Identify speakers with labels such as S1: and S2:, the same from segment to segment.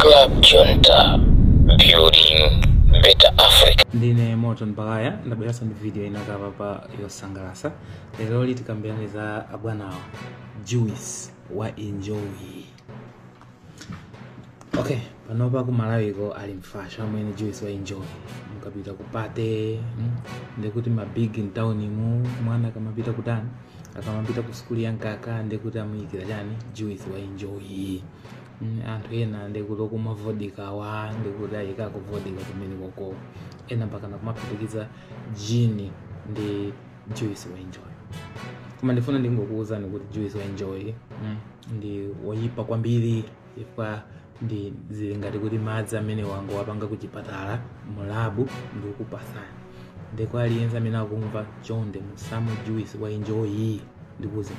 S1: Club Junta, building better Africa. ndine
S2: Morton Baghaya ndabweranso ndi video ina apapa yosangalatsa lero ili tikambirane za abwanawa juice wa Enjoy okay panopa ku Malawiko ali mfashoni amwene juice wa Enjoy mukapita ku pate mm, nde kuti ma big in town mu mwana akamapita kuti akamapita ku sukulu ya mkaka nde kuti amuyikira chani juice wa Enjoy mm, anthu ena nde kuti okumwa vodka wa nde kuti ayikako vodka kumene koko ena mpakana kumaphatikiza gin ndi juice wa Enjoy koma ndifuna ndingokuwuzani kuti juice wa Enjoy mm. ndi woyipa kwambiri chifukwa nde zili ngati kuti madzi amene angowapanga ku chipatala mu labu ndikukupasani nde kwa aliyense amene akumva chonde musamwe juice wa Enjoy ndikuuze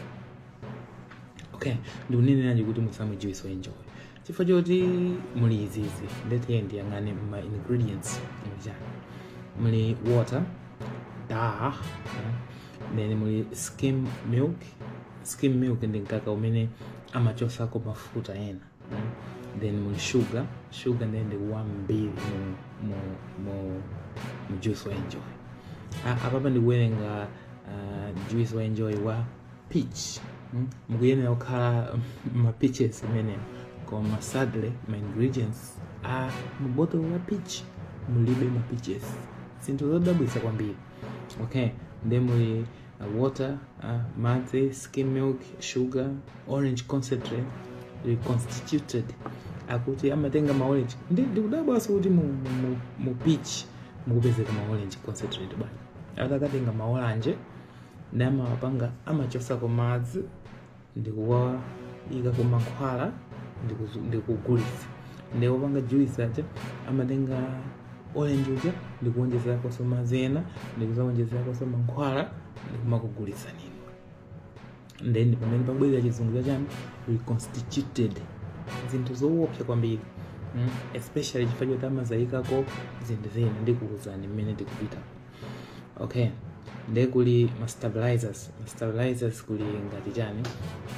S2: okay ndikuneneranji kuti musamwe juice wa Enjoy chifukwa choti muli izizi ndete ndiyang'ane ma ingredients muli chani muli water da then muli skim milk skim milk ndi mkaka umene amachosako mafuta ena mm. then muli sugar sugar ndiye ndi wambiri mu, mu, mu, mu juice wa Enjoy A- apapa ndikuwerenga uh, juice wa Enjoy wa peach mm? mukuyenera kukhala ma peaches m'menemo koma sadly ma ingredients a mubotolo la peach mulibe ma peaches zinthu zodabwitsa kwambiri okay nde muli uh, water uh, madzi skim milk sugar orange concentrate reconstituted akuti amatenga ma orange ndi ndikudabwanso kuti mu, mu, mu, mu peach mukupezeka ma orange concentrate bwana akatenga ma orange nde amawapanga amachosako madzi ndikuwaikako mankhwala ndikuzu- ndikugulitsa nde opanga juice aja amatenga orange uja ndikuwonjezerakonso madzi ena ndikuzawonjezerakonso mankhwala ndikumakugulitsani inu nde pamene pabwera chizungu chachani reconstituted zinthu zoopsa kwambiri mm? especially chifukwa choti amazayikako zinthu zina ndikuwuzani mmene tikupita okay nde kuli ma stabilizers ma stabilizers kuli ngati chani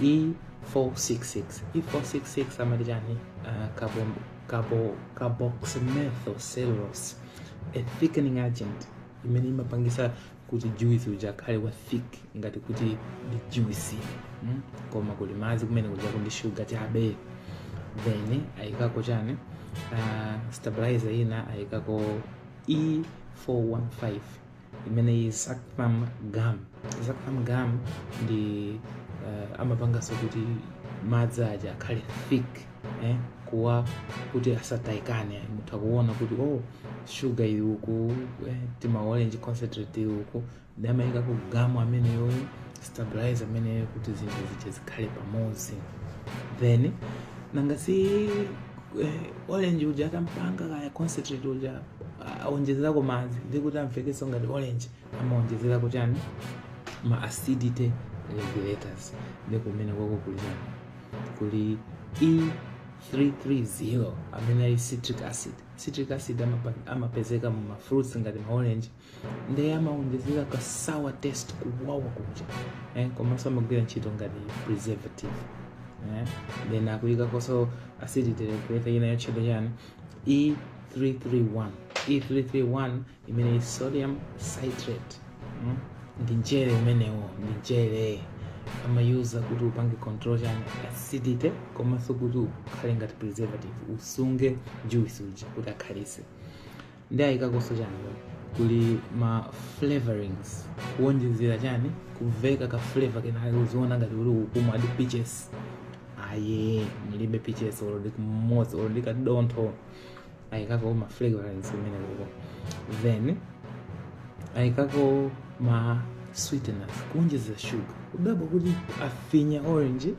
S2: e466 e466 amati chani uh, carbo, carbo, carboxymethylcellulose a thickening agent imene imapangisa kuti juice uja akhale wa thick ngati kuti ndi juice mm? koma kuli madzi kumene kujako ndi shuga chabe then ayikako chani uh, stabilizer ina ayikako E415 imene is xanthan gum xanthan gum ndi uh, amapanganso kuti madzi aja akhale thick eh, kuwa kuti asataikane mutha kuona kuti oh sugar ili uku eh, timaorange concentrate ili uku ndi amaikako gum ameneyo stabilizer ameneyo kuti zinthu zija zikhale pamodzi then nanga si eh, orange uja atampanga kaya concentrate uja ah, aonjezerako madzi ndi kuti amvekeso ngati orange amaonjezerako chani ma acidity regulators ndi kumene kwako kuli chani kuli e330 amene ali citric acid citric acid amapa- amapezeka mu mafruits ngati maorange ndiye amawonjezera ka sour taste kuwawa kuja eh, komanso amagwira ntchito ngati preservative eh, then akuyikakonso acidity regulator ina yotchedwa chani e331 e331 imene is sodium citrate mm? ndi mchere umenewo ndi mchere amayuza kuti upange control chani acidity komanso kuti ukhale ngati preservative usunge juice uja kuti akhalise ndi ayikakonso chani pano? kuli ma flavorings kuwonjezera chani kuveka ka flavor kenaka uziona ngati uli ukumwadi peaches ayi mulibe peaches olo ndi kamodzi olo ndi kadontho ayikako ma flavorings kumene kuko then ayikako ma sweeteners kuwonjezera sugar udabwa kuti afinya orange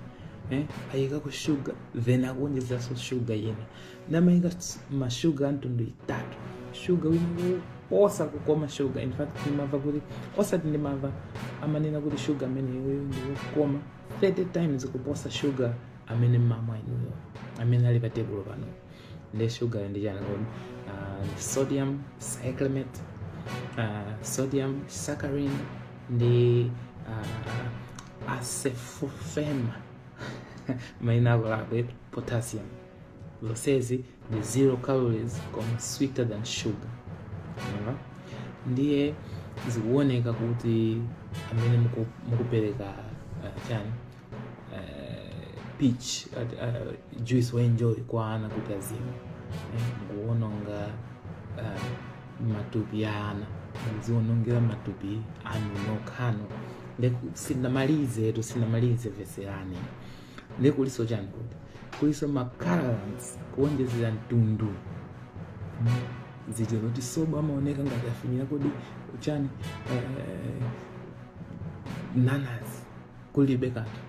S2: eh, ayikako sugar then akuwonjezeranso sugar ina namaika s- mashuga amtundu itatu shuga wina oposa kukoma shuga in fact ndimamva kuti osati ndimamva amanena kuti shuga ameneyo ndiwokoma 30 times kuposa shuga amene mmamwa inuyo amene ali pa tebulo pano ndi shugayo ndi chani kodi Ah, ndi sodium cyclamate ah, sodium saccharin ndi ah, acesulfame maina akulakwe potassium zonsezi ndi zero calories koma sweeter than sugar Mwaona? ndiye zikuoneka kuti amene muku- mukupereka uh, chani uh, peach uh, juice waenjoy kwa ana kuti azimwe eh, mukuononga uh, matupi a ana muzionongera matupi anu nokhano sinamalizetu sinamalize veserani ndiye kuliso chani kuti kuliso ma colorants kuonjezera mtundu zija zoti sobo amaoneka ngati afinyira kodi chani eh, nanas kulibe kanthu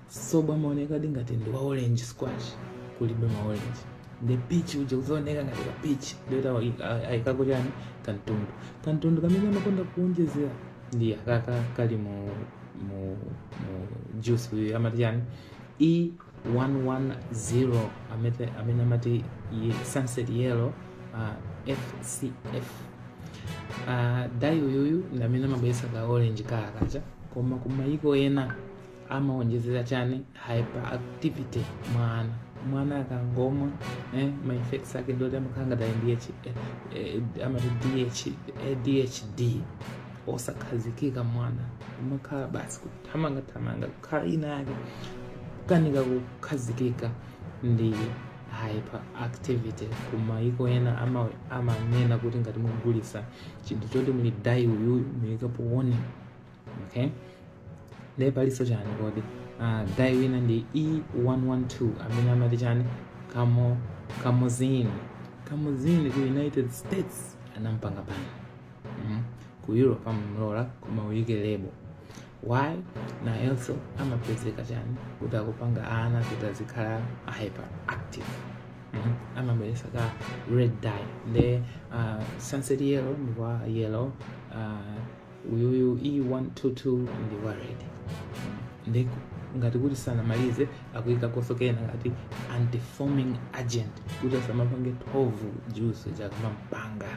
S2: sobo amaoneka di ngati ndi wa orange squash kulibe ma orange ndi peach uja uzaoneka ngati ka peach ndoti ayikako chani kantundu kantundu kamene amakonda kuonjezera ndiye akaka kali mu mu mu juice uyu amati chani e 110 amete amene amati ye- sunset yellow uh, fcf uh, dai uyuyu ndi amene amabweretsa ka orange kala kaja koma kumayiko ena amaonjezera chani hyperactivity mwa ana mwana akangomwa eh, ma effects ake ndoti amakhala ngati ali ndi H- eh, eh, amati ADH, eh, adhd osakhazikika mwana amakhala basi kuthamanga thamanga kukhala ina yake kukanika kukhazikika ndi hyperactivity kumayiko ena ama- amanena kuti ngati mugulisa chinthu choti muli dayi uyuyu muyikapo warning okay nde palinso chani kodi uh, dayi wina ndi e112 amene amati chani kamo kamuzini kamuzini ku united states anampanga ban mm. ku europe amamlola koma uyike lebo why nayenso amapezeka chani kuti akupanga ana kuti azikhala hyperactive Mhm. amabweresa ka red dye nde uh, sunset yellow ndi wa yellow uh, uyuyu e122 ndi wa red nde ngati kuti sanamalize akuyika konso kena ngati antifoaming agent kuti asamapange thovu juice akamampanga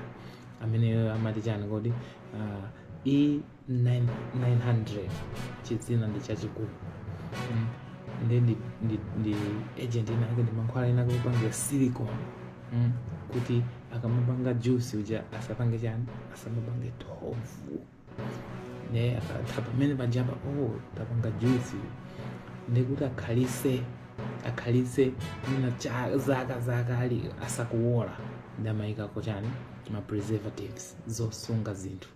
S2: amene amati chani kodi uh, e 900 chidzina ndi chachikulu mm. ndi ndi ndi ndi agent inake ndi mankhwala enake opangira silicon mm. kuti akamapanga juice uja asapange chani asamapange thovu nde akatha pamene pajapa oh tapanga juice ndikuti akhalise akhalise mwina cha- zaka zaka ali asakuwola nde amayikako chani ma preservatives zosunga zinthu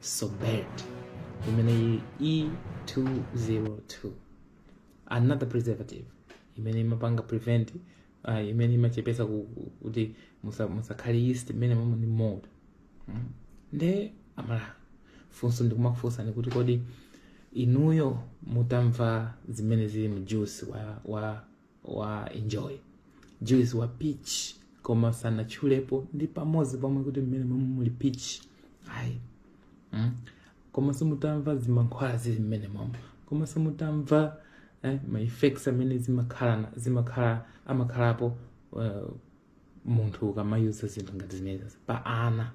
S2: Sorbate imene ili E202 another preservative imene imapanga prevent uh, imene imachepesa ku- ku- kuti musa- musakhale yeast imene momwe ndi mold mm. nde amala funso ndikumakufunsani kuti kodi inuyo mutamva zimene zili mu juice wa, wa wa enjoy juice wa peach koma sanatchulepo ndi pamodzi pomwe kuti mmene momwe mulibe peach ayi mm? koma simutamva zimankhwala zili mmenemomo koma simutamva eh, ma effects amene zimakhala zimakhala amakhalapo uh, munthu ukamayuza zinthu ngati zimenezi pa ana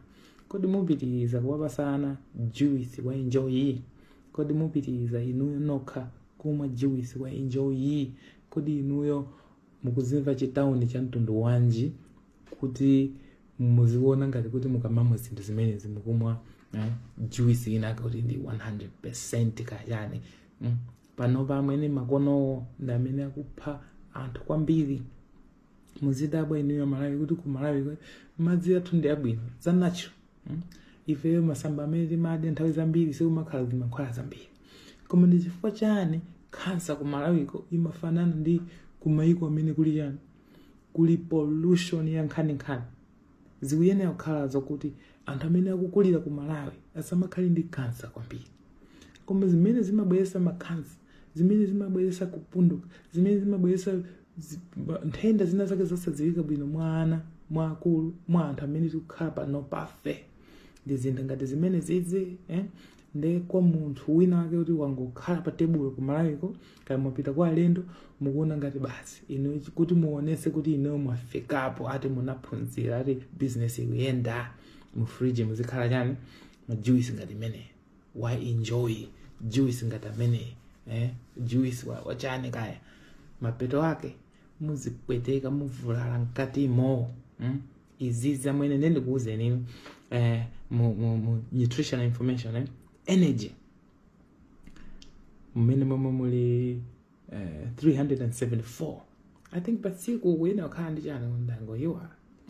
S2: kodi mupitiriza kuwapasa ana juice wa enjoy kodi mupitiriza inuyo nokha kumwa juice wa enjoy kodi inuyo mukuzimva chitauni cha mtundu wanji kuti muziona ngati kuti mukamamwa zinthu zimenezi mukumwa eh, juice ina kuti ndi 100% kaya chani mm. panopa amwene makonowo ndi amene akupha anthu kwambiri muzidabwa inuyo amalawi kuti ku malawi kwe- madzi athu ndi abwino za natural mm? ifeyo masamba amene timadya nthawi zambiri sikumakhala zimankhwala zambiri koma ndi chifukwa chani khansa ku malawiko imafanana ndi kumayiko amene kuli chani kuli pollution ya nkhaninkhani Zikuyenera kukhala zokuti anthu amene akukulira ku Malawi asamakhale ndi kansa kwambiri. Koma zimene zimabweretsa makansa, zimene zimabweretsa kupunduka, zimene zimabweretsa zi- ba- nthenda zina zake zosadziwika bwino mwa ana, mwa akulu, mwa anthu amene tikukhala panopafe. Ndi zinthu ngati zimenezizi, eh? nde kwa munthu wina wake kuti wangokhala pa tebulo kumalawiko kaya mwapita kwa alendo mukuona ngati basi inu kuti muonese kuti inuyo mwafikapo ati munaphunzira ati bizinesi ikuyenda mu fridge muzikhala chani majuisi ngati ameneyi wa enjoy juice ngati ameneyi eh? juice wa- wachani kaya mapeto ake muzipweteka muvulala mkatimo mm? izizi amwene nde ndikuwuzeni inu eh, mu, mu, mu nutritional information eh? energy mmenemomo muli eh, 374 i think patsiku kuyenera kukhala ndi chani ndangoyiwa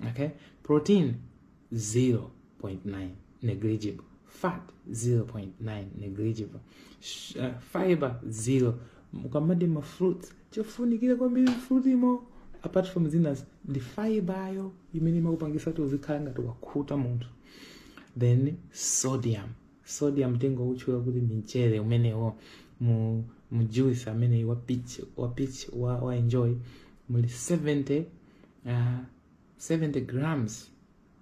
S2: okay protein zero 0.9 negligible fat 0.9 negligible Sh- uh, fiber 0 mukamati ma fruit chofunikira kwambiri mfrutimo apart from zinazo ndi fiber yo imene imakupangisa kuti uzikhala ngati wakhuta munthu then sodium sodium nthengo wotchula kuti ndi mchere umenewo mu mu juice amene wa peach wa peach wa, wa enjoy muli 70 uh, 70 grams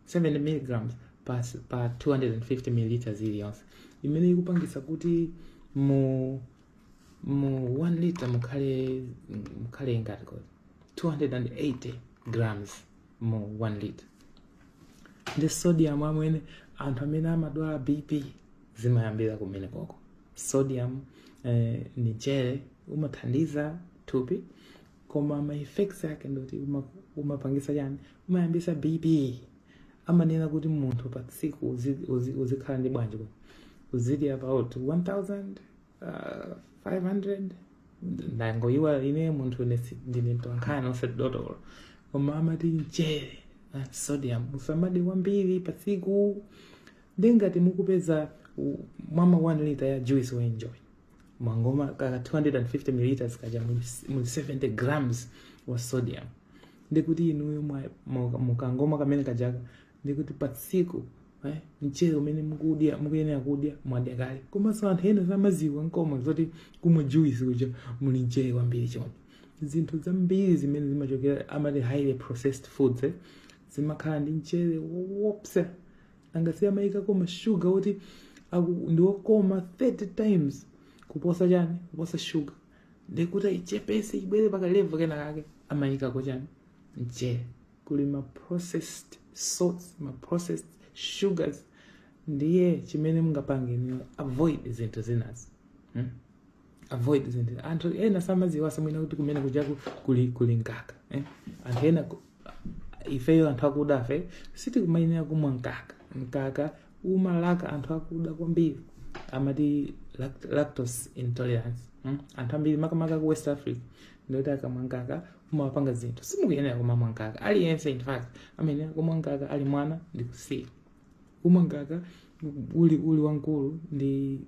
S2: 70 milligrams pa, pa 250 milliliters iliyonse imene ikupangitsa kuti mu mu 1 liter mukhale mukhale ingati kodi 280 grams mu 1 liter ndi sodium amwene anthu amene amadwala bp zimayambira kumenekoko sodium eh, ndi mchere umathandiza thupi koma ma effects ake ndikuti uma- umapangisa chani umayambisa bp amanena kuti munthu pa tsiku uzi- uzi- uzikhala ndi bwanji kuti uzidya about 1500 ndangoyiwala ine munthu ine si- ndine mtolankhani osati dotolo koma amati mchere na sodium usamadye kwambiri pa tsiku ndiye ngati mukupeza u- mwamwa 1 lita ya juice wa Enjoy mwangomwa ka 250 milliliters kaja muli s- muli 70 grams wa sodium ndikuti inuyo mwa- muka- mukangomwa kamene kajaka ndikuti pa tsiku eh, mchere umene mukudya mukuyenera kudya mwadya kale komanso anthu ena samaziwa nkomwe zoti kumwa juice kuja muli mchere wambiri choncho zinthu zambiri zimene zimachokera amati highly processed foods eh, zimakhala ndi mchere wopsa angasiye amayikako mashuga oti aku- ndi wokoma 30 times kuposa chani kuposa shuga ndekuti ayichepese ibwere pakalevu kena kake amayikako chani mchere kuli ma processed salts ma processed sugars ndiye chimene mungapange ndi avoid zinthu zinazi hmm? avoid zinthu anthu ena samadziwa zamwina kuti kumene kujaku kuli kuli mkaka eh? anthu ena ku- ifeyo anthu akudafe sitikumayenera kumwa mkaka mkaka umawalaka anthu akuda kwambiri amati lact- lactose intolerance mm? anthu ambiri makamaka ku west africa ndikuti akamwa mkaka umawapanga zinthu simukuyenera kumamwa mkaka aliyense in fact amayenera kumwa mkaka ali mwana ndikusiya kumwa mkaka uli uli wankulu ndi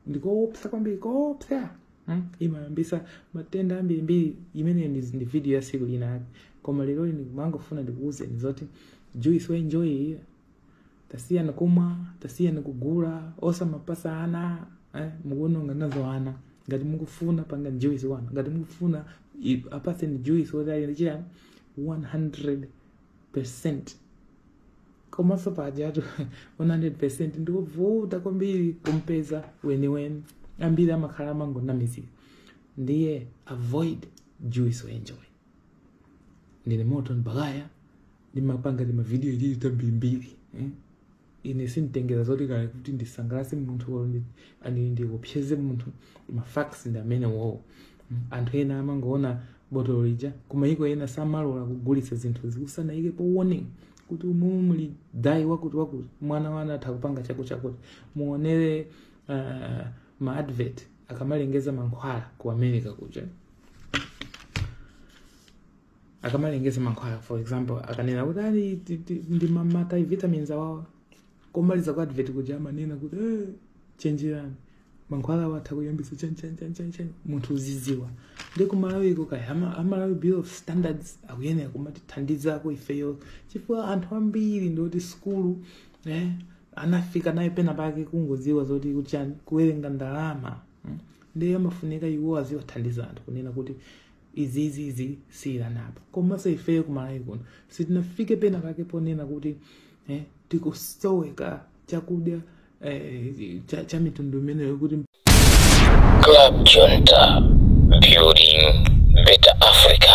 S2: ndikoopsa kwambiri koopsa mm? imayambisa matenda ambirimbiri imeneyo ndi ndi video ya siku linake koma lero ndimangofuna ndikuwuzeni zoti juice wa Enjoy iyi tasiyani kumwa tasiyani kugula osamapasa ana eh? mukuononga nazo ana ngati mukufuna panga juice wa ana ngati mukufuna i- apaseni juice woti ali ndi chiyani 100 komanso pajatu 100 ndiwovuta kwambiri kumpeza weniweni ambiri amakhala amangonamizira ndiye avoid juice wa Enjoy ndine moto ndibakaya ndimapanga timavidiyo alili tambirimbiri eh? ine sinditengera zoti kaya kuti ndisangalase munthu or ndi- ani ndikupyeze munthu ma facts ndi amenewowo Mm. anthu ena amangoona botolo lija kumayiko ena samalola kugulitsa zinthu musanaikepo warning kuti umumu muli dye wakuti wakuti mwana wanu atha kupanga chakuti chakuti muonere uh, ma advert akamalengeza mankhwala ku america kuja akamalengeza mankhwala for example akanena kuti ali ti- ti- ndi ma multivitamins awawa kumaliza kwa advert kuja amanena kuti eh, chenjerani mankhwalawa atha kuyambisa chanchanchanchan munthu uziziwa ndiye ku Malawiko kaya ama- a Malawi Bureau of Standards akuyenera kumatithandizako ifeyo chifukwa anthu ambiri ndioti sukulu eh, anafika nayo pena pake kungoziwa zoti kuchani kuwerenga ndalama mm. ndiye amafunika iwo aziwathandiza anthu kunena kuti izizizi siyilanapa komanso ifeyo ku Malawi kuno sitinafike pena pake ponena kuti eh, tikusoweka chakudya eh, cha, cha mitundu imeneyo
S1: kuti Club Junta, building better Africa.